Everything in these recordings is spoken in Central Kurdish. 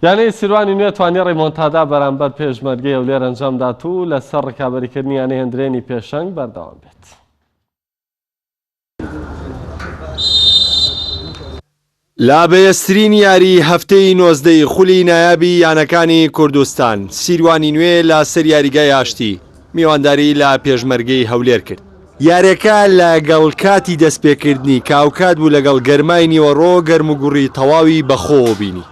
یانەی سیروانی نوێ توانی ڕیمۆنتادا بەرامبەر پێشمەرگەی هەولێر ئەنجامدات و لەسەر ڕکابەریکردنی یانەی هەندرێنی پێشەنگ بەردەوام بێت. لە بەێزترین یاریی هەفتەی نۆزدەی خولی نایابی یانەکانی کوردستان، سیروانی نوێ لە سەر یاریگای ئاشتی، میوانداری لە پێشمەرگەی هەولێر کرد. یاریەکە لە گەڵ کاتی دەست پێکردنی کاوکاد بوو لە گەڵ گەرمای نیوەڕۆ گەرم و گوڕی تەواوی بە خۆوە بینی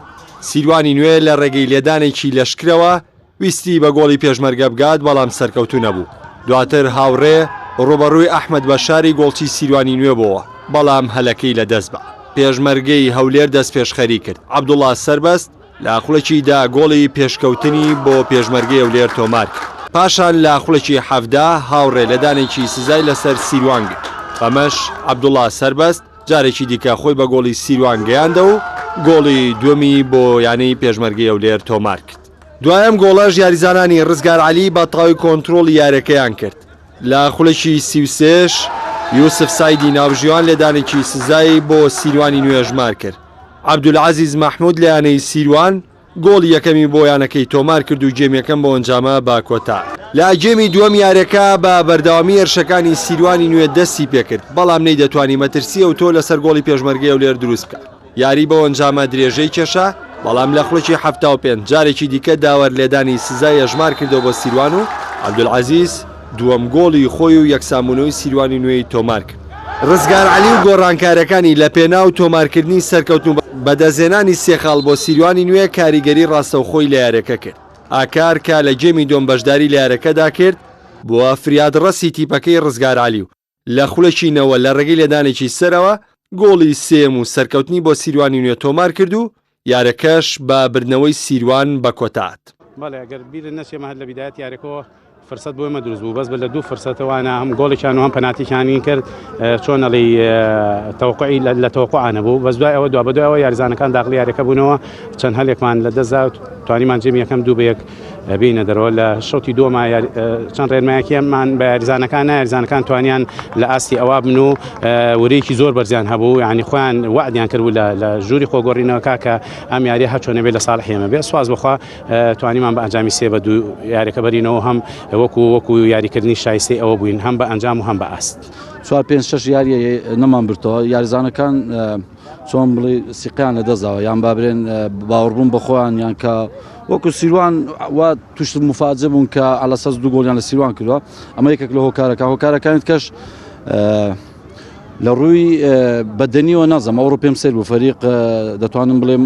سیروانی نوێ لە ڕێگەی لێدانێکی لەشکرەوە ویستی بە گۆڵی پێشمەرگە بگات بەڵام سەرکەوتوو نەبوو دواتر هاوڕێ ڕوبەڕووی ئەحمەد بەشاری گۆڵچی سیروانی نوێ بۆوە بەڵام هەلەکەی لە دەست بە پێشمەرگەی هەولێر دەست پێشخەری کرد عەبدوڵا سەربەست لە خوڵێکی دە گۆڵی پێشکەوتنی بۆ پێشمەرگەی هەولێر تۆمارکرد. پاشان لە خوڵێکی حەڤدە هاوڕێ لە دانێکی سزای لەسەر سیروان گرت، بەمەش عەبدوڵا سەربەست جارێکی دیکە خۆی بە گۆڵی سیروان گەیاندەوە و گۆڵی دووەمی بۆ یانەی پێشمەرگەی هەولێر تۆمارکرد. دوای ئەم گۆڵەش یاریزانانی ڕزگار عەلی بە تەواوی کۆنترۆڵی یاریەکەیان کرد، لە خوڵێکی سی و سێش یوسف سەعیدی ناوبژیوان لێدانێکی سزای بۆ سیروانی نوێژمارکرد، عەبدولعەزیز مەحمود لە یانەی سیروان گۆڵی یەکەمی بۆ یانەکەی تۆمارکرد و گێم یەکەم بۆ ئەنجامە بە کۆتا. لە گێمی دووەم یارەکە بە بەردەوامی هێرشەکانی سیروانی نوێ دەستی پێکرد، بەڵام نەیدەتوانی مەترسی ئەوتۆ لەسەر گۆڵی پێشمەرگەی هەولێر دروست بکا، یاری بەو ئەنجامە درێژەی کێشا، بەڵام لە خولەکی حەفتا و پێنج جارێکی دیکە داوەر لێدانی سزای هەژمارکردەوە بۆ سیروان و عەبدولعەزیز دووەم گۆڵی خۆی و یەکسانبوونەوەی سیروانی نوێی تۆمارکرد. ڕزگار عەلی و گۆڕانکارەکانی لەپێناو تۆمارکردنی سەرکەوتن و بەدەستهێنانی سێ خاڵ بۆ سیروانی نوێ کاریگەری ڕاستەوخۆی لە یارییەکە کرد، ئاکار کە لە گێمی دووەم بەشداری لە یارییەکەدا کرد، بووە فریادڕەسی تیپەکەی ڕزگار عەلی و لە خولەکینەوە لە رێگەی لێدانێکی سەرەوە گۆڵی سێیەم و سەرکەوتنی بۆ سیروانی نوێ تۆمار کرد و یارەکەش بە بردنەوەی سیروان بە کۆتات. بەڵێ ئەگەر بیرت نەچێ ئێمە هەر لە بیدایەتی یاریەکەوە فرسەت بۆ ئێمە دروست بوو بەس بە لە دوو فرسەتە وانە هەم گۆڵێکیان و هەم پەناتیکیانی کرد چۆن ئەڵی تەوقعی لە تەوقعا نەبوو بەس دوای ئەوە دوا بەدوایەوە یاریزانەکان داخلی یاریەکە بوونەوە چەند هەلێکمان لە دەستدا توانیمان جێمی یەکەم دوو بە یەک بێینە دەرەوە لە شوتی دووەما چەند ڕێنمایەکیمان بە یاریزانەکان نایارزانەکان توانیان لە ئاستی ئەوە بن و ورێکی زۆر بەرزیان هەبوو ینی خۆیان وعدیان کردبوو لە ژووری خۆگۆڕینەوە کاکە ئەم یاریە هەچۆنە بێ لە ساڵ حێمە بێ سواز بخوا توانیمان بە ئەنجامی سێ بە دوو یاریەکە بەرینەوە هەم وەکو وەکو یاریکردنی شایستی ئەوە بووین هەم بە ئەنجام و هەم بە ئاست. چوار پێنج شش یاریە نەمان برتەوە یاریزانەکان چۆن بڵی سیقیان لە دەزاوە یان بابرێن باوەڕبوون بەخۆیان یان کە وەکو سیروان وا توشت مفاجە بوون کە ئەلە سەز دوو گۆلیان لە سیروان کردوە ئەمە یەکێک لە هۆکارەکە هۆکارەکانت کەش لە ڕووی بەدەنیەوە نازم ئەوڕۆ پێم سەر بوو فەریق دەتوانم بڵێم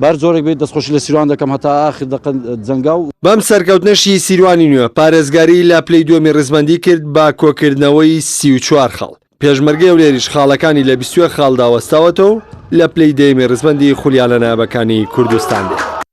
بەهەر جۆرێک بێت دەستخۆشی لە سیروان دەکەم هەتا ئاخر دەقە جەنگاو. بەم سەرکەوتنەشی سیروانی نوێ پارێزگاری لە پلەی دووەمی ڕیزبەندی کرد بە کۆکردنەوەی سی و چوار خاڵ، پێشمەرگەی هەولێریش خاڵەکانی لە بیست و یەک خاڵدا وەستاوەتەوە و لە پلەی دەیەمی ڕیزبەندی خولیایانە نایابەکانی کوردستان دێت.